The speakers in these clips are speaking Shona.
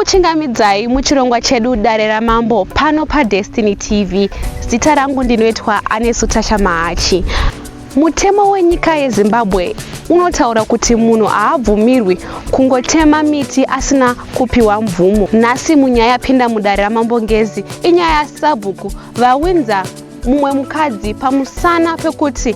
Kuchingamidzai muchirongwa chedu Dare raMambo pano paDestiny TV. Zita rangu ndinoitwa Anesu Tasha Mahachi. Mutemo wenyika yeZimbabwe unotaura kuti munhu haabvumirwi kungotema miti asina kupiwa mvumo. Nhasi munyaya yapinda mudare raMambo Ngezi inyaya yasabhuku vawinza mumwe mukadzi pamusana pekuti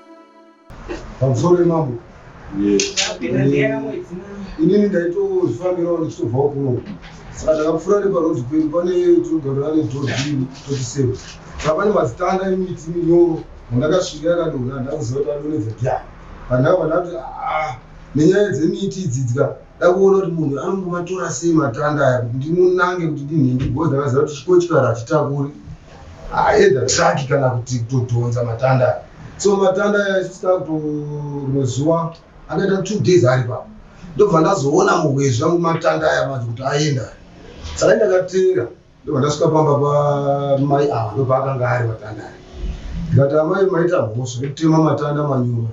pamusoro yemambo inini ndaitozvifambirawo ndichitobvawo kuno saka takapfuura neparodhi pedu pane tinogarira nedhodhini totiseva saka pane mazitanda emiti minyoro mandakasvika yakadona ndakuziva kuti adonedza dya pandaka pandakuti aa ah, nenyaya dzemiti idzidzika dakuona kuti munhu anongomatora sei matanda aya kuti ndimunange kuti ndinhingi bcoz ndakaziva kuti chikotyo kara hachitakuri ah, either truck kana kuti kutodhonza matanda so matanda aisvika kuto rimwe zuva akaita two days ari pa ndobva ndazoona muhwezvi angu matanda aya manje kuti aenda saka ndakatenga ndobva ndasvika pamba pamai ava ndobva akanga ari matanda aya ndikati amai maita mhosva yekutema matanda manyuma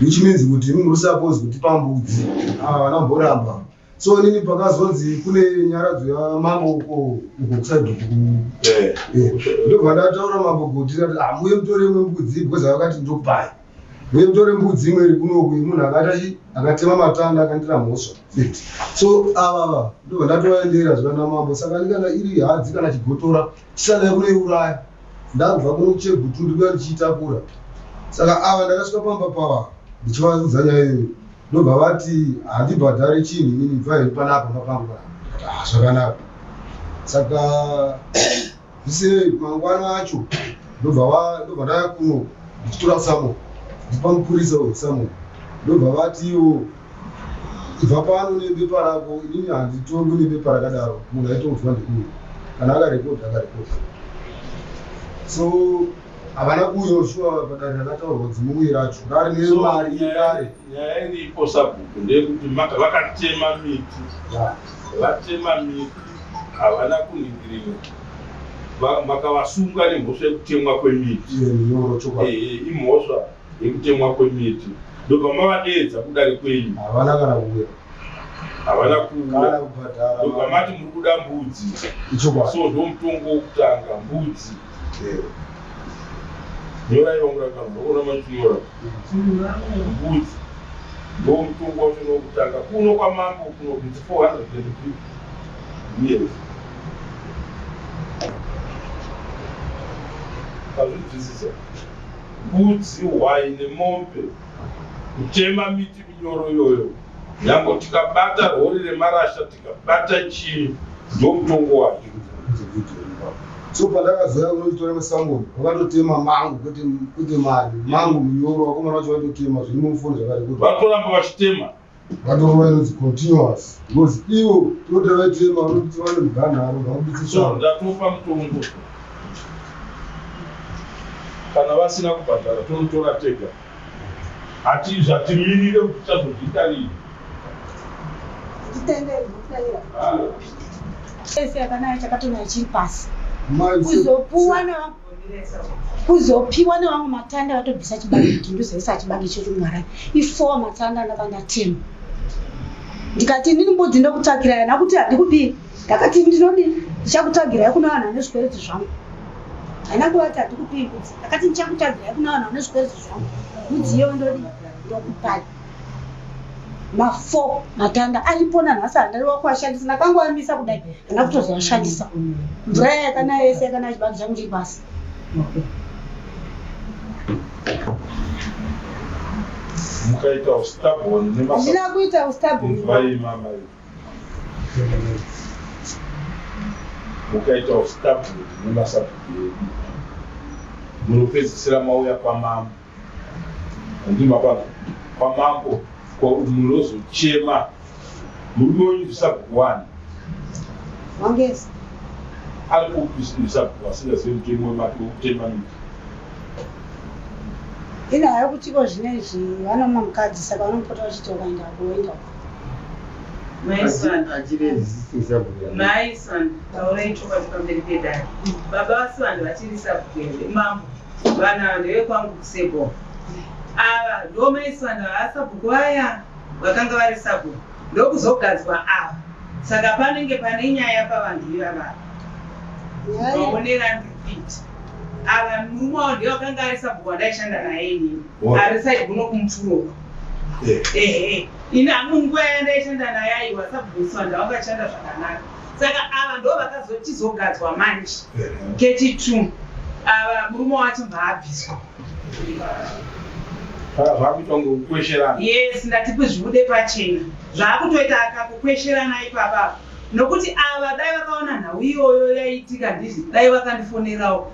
which means kuti muri supose kuti pambudzi ava ah, vana mboramba so inini pakazonzi kune nyaradzo yamambo uko uko kusadhuku eh. eh. ndobva ndataura mambo kuti ndati amuye ah, mutore imwe mbudzi because vakati ndopai muye mutore mbudzi imwe iri kunoku munhu akatachi akatema matanda akandira mhosva fit so avava ndobva ndatovaendera zvivana mambo saka ndikana iri hadzi kana chigotora chisadai kunoiuraya ndabva kunochegutu ndikuya ndichiitakura saka ava ndakasvika pamba pava ndichivaudza nyaya iyoyo ndobva vati handibhadhare chinhu inini bva henyu panapa mapangu panapa ah, zvakanaka saka zvisinei mangwana acho ndobva ndobva ndaya kuno ndichitora samo ndipa mupurisa uyu samo ndobva vati iwo ibva pano nebepa rako inini handitorwi nebepa rakadaro munhu aitouzwa ndikuyo kana akarekodha akarekodha so Havana kuuyawo shuwa apa dare rakataurwa dzimumwe racho rari nemari yedare. Nyaya iripo sabhuku ndeyekuti vakatema miti vatema miti havana kuningirira makavasunga nemhosva yekutemwa kwemiti imhosva yekutemwa kwemiti ndopamavadeedza kudare kwenyu havana kana kuuya havana kuuya ndopamati muri kuda mbudzi so ndomutongo wokutanga mbudzi nyorai vamurakazi vaona machinyora mbudzi ndomutungu wacho nokutanga kuno kwamambo kuno kuti 450 years azvinzwisisa mbudzi hwai nemombe kutema miti minyoro iyoyo nyango tikabata rori remarasha Bata chii ndomutongo wake so pandakazoya kunochitora masamoni vakatotema mangu kwete kwete mari mangu munyoro vakomana vacho vaitotema zviri mumufoni zvakati kuti vatoramba vachitema vatorova inonzi continuous because ivo toti vaitema vanokuti vane muganharo vakubitsisa ndatopa mutongo kana vasina kubhadhara tonotora tega Ati zvatimirire kuti tichazozviita rini. Titendere zvokutaira. Ese yakanaya chakatona chiri pasi. Kuzopuwa na kuzopiwa nevamwe matanda vatobvisa chibage kuti ndizoisa chibage chekumwarai ifowa matanda ndaka ndatema ndikati ndini mbudzi ndokutsvagirai hana kuti handikupii ndakati ndinodi ndichakutsvagirai kuno vanhu vane zvikwereti zvangu haina kuvati handikupii mbudzi akati ndichakutadzirai kuna vanhu vane zvikwereti zvangu mudziyo ndodi ndokupai mafo matanda aripo nanhasi handari wakuashandisa ndakangoamisa kudai hana kutozoashandisa mvura yayakanaya yese yakanaya chibagi changu chiri pasi mukaita ustabon nemaandina kuita ustabon mukaitawo stable nemasabhuku edu munopedzisira mauya kwamambo andimapano kwamambo munozochema murume wenyu ndisabhuku wani wangezi ari kupisabhuku asingazivi mutemo wemake wekutema miti ina hayo kutiko zvine izvi vanomwa mukadzi saka vanompota vachiti ukaenda kuoenda Mai Swan. achiri resisting sabhuku Mai Swan, taurai chokwadi pamberi pedare. Baba vaSwan vachiri sabhuku here? Mambo, vanhu ava ndevekwangu kusebo. Ava ndo Mai Swan vava sabhuku vaya vakanga vari sabhuku ndokuzogadzwa ava. Saka panenge pane nyaya pavanhu ivava. Nyaya Vaonera ndipiti. Ava mumwe wavo ndiye wakanga ari sabhuku wandaishanda naye inini. arisai kuno kumufuro uko ehe ini hangu nguva yandaishanda naye aiwa sabhusa ndavakashanda zvakanaka saka ava ndo vakazotizogadzwa manje keti two ava murume wacho mbaabviswa yes ndatipi zvibude pachena zvaakutoita akakukwesherana ipapapa nokuti ava dai vakaona nhau iyoyo yaiitika ndizvi dai vakandifonerawo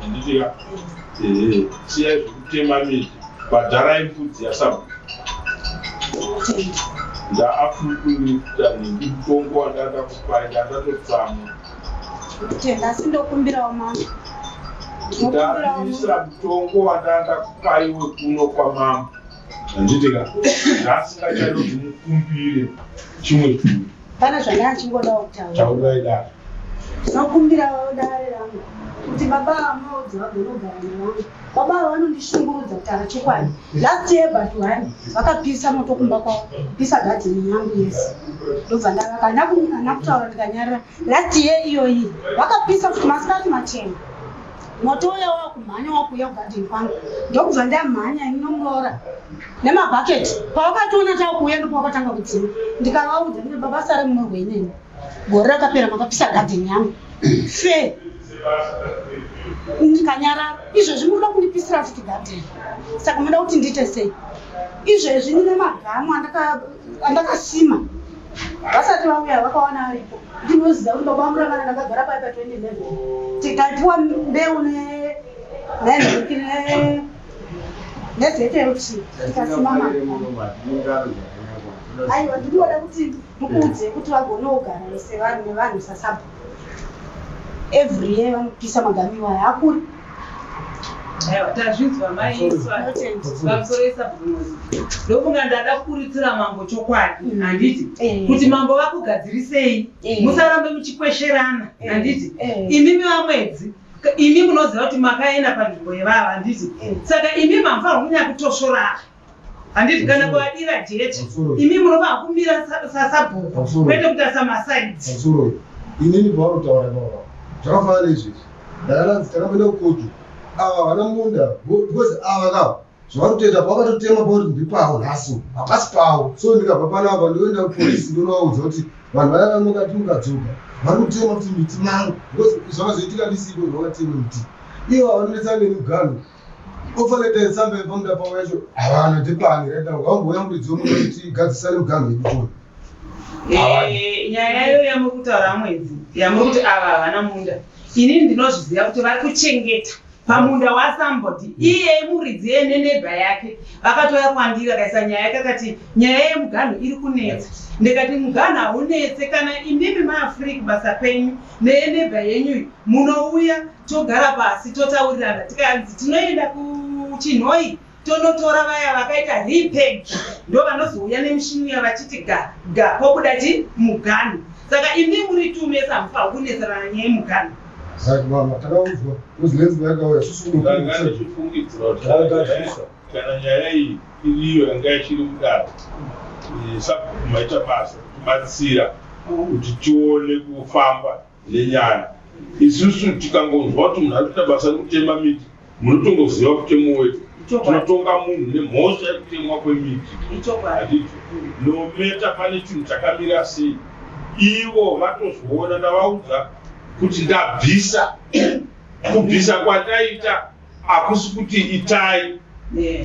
Handitiya. Ehe. Siyai zvekutema miti. Bhadharai mbudzi yasabu. Ndaakukuita nemutongo wandada kupai ndandatotsamwa. Kutenda asi ndokumbirawo mambo. Ndokumbirawo mambo. Ndabisa mutongo wandanda kupai wekuno kwamambo. Handitika. Ndasingachadi kuti mukumbire chimwe chinhu. Pana zvanga achingoda kutaura. Taura ida. Sinokumbira dare rangu kuti baba vamaudzi vagonogara nevangu. Baba ava vanondishungurudza kutaura chokwadi. Last year but one vakapisa moto kumba kwavo kupisa gadheni yangu yese. Ndobva ndavaka handina kutaura ndikanyarira. Last year iyoyi vakapisa kuti masikati machena. moto uya wakumhanya wakuya kugadhini kwangu ndokubva ndamhanya ini nomuroora nemabhaketi pavakatoona takuuya ndopavakatanga kudzima ndikavaudza ndine baba sare munorwe inini gore rakapera makapisa gadhini yangu fe ndikanyarara izvezvi munoda kundipisira futi gadhini saka munoda kuti ndiite sei izvezvi ndine magamu andakasima anda vasati vauya vakawana aripo ndinoziva kuti baba vamuravana ndakagara pai pa 2011 tikatiwa mbeu nenhiki nezeteuc tikasimama aiwa ndinoda kuti ndikuudze kuti vagoneogara sevanhu nevanhu sasabhu every year vanopisa magamiwa hakuri tazvinzwa maiisvamusoroisabvunondofunga ndada kukuritira mambo chokwadi mm. handiti eh. kuti mambo vakugadzirisei eh. musarambe muchikwesherana eh. handiti imimi vamwedzi imi munoziva kuti makaenda panzvimbo yevava handiti saka imi mambo vakunyakutosvoraka handiti kana kuvadira jechi imi munova kumira sasabhuku kwete kutarisa masaidzi inini pavanotaura vava zvakafanana neizvezvi ndakananzi takamboenda kukotu ava havana munda because ava ka zvavari kutoita pavakatotema pauri ndi pavo nhasi hapasi pavo so ndikabva panapa ndoenda kupolisi ndonovaudza kuti vanhu vaya vanongati mukadzoka vari kutema kuti miti mangu because zvakazoitika ndisipo zvavakatema miti ivo havanonetsa neni mugano ofanete nsambe pamda pamwecho havana ndipani reda wangouya muridzi womuti tigadzisane muganhu yekutona Eh, nyaya iyo yamuri kutaura mwedzi yamuri kuti ava havana munda ini ndinozviziva kuti vari kuchengeta pamunda wasambodi iye muridzi yeneneba yake vakatouya kwandiri akaisa nyaya yake akati nyaya yemuganhu iri kunetsa ndikati muganhu haunetse kana imimi maafrika basa penyu neyeneba yenyu iyi munouya togara pasi totaurirana tikanzi tinoenda kuchinhoi tonotora vaya vakaita repeg ndo vanozouya nemishini uya vachiti ga ga pobuda ti mugano saka imi muri two mese hamufa kunetsana nyaya yemugano Right, mama, takaudzwa kuti lenzi yakauya susu ndaifungidzira kuti kana nyaya iyi iriyo yanga ichiri kudaro eh, sabhuku maita basa kutibatsira kuti tione kufamba nenyaya isusu tikangonzwa kuti munhu ari kuita basa rekutema miti munotongoziva kutemo wedu tinotonga munhu nemhosva yekutemwa kwemiti handicho nometa pane chinhu chakamira sei ivo vatozviona ndavaudza kuti ndabvisa kubvisa kwandaita hakusi kuti itai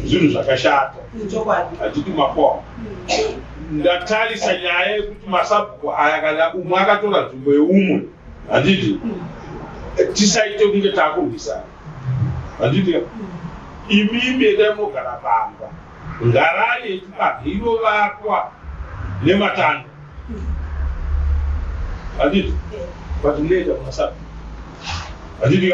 zvinhu zvakashata hatiti mapoa ndatarisa nyaya yekuti masabhuku aya kana umwe akatora nzvimbo yeumwe handiti tisaite kunge takurwisana handiti imimi endai munogara pamba ngarani yechibage inovakwa nematanda handiti but munoenda kumasabhuku handiti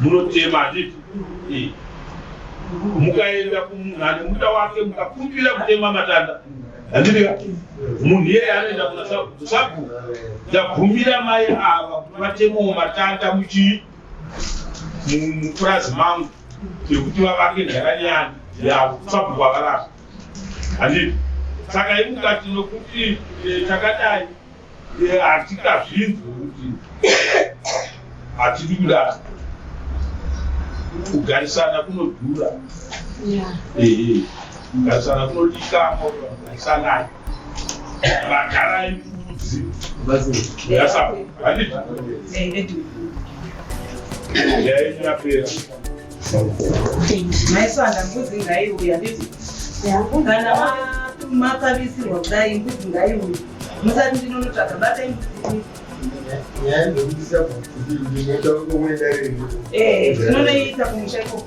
munotema handiti mukaenda kumunhu ane munda wake mukakumbira kutema matanda handiti munhu iyeye anoenda kuna sabhuku sabhuku ndabvumira mai ava kuti vatemewo matanda muchii mupurazi mangu yekuti vavake ndaranyana yavo sabhuku avarasa handiti saka imukati nokuti eh, takadai hatikazvinzwi kuti hatidi kudaro kugarisana kunodhura kugarisana kunodikamo garisanai vagarai mbudzi yasavandiaenyapera maiswanda mbudzi ngaiuya nditi kana makavisirwa kudai mbudzi ngaiuya musati ndinonotsvaga batai mbudzi eh, tinonoiita kumusha ikoko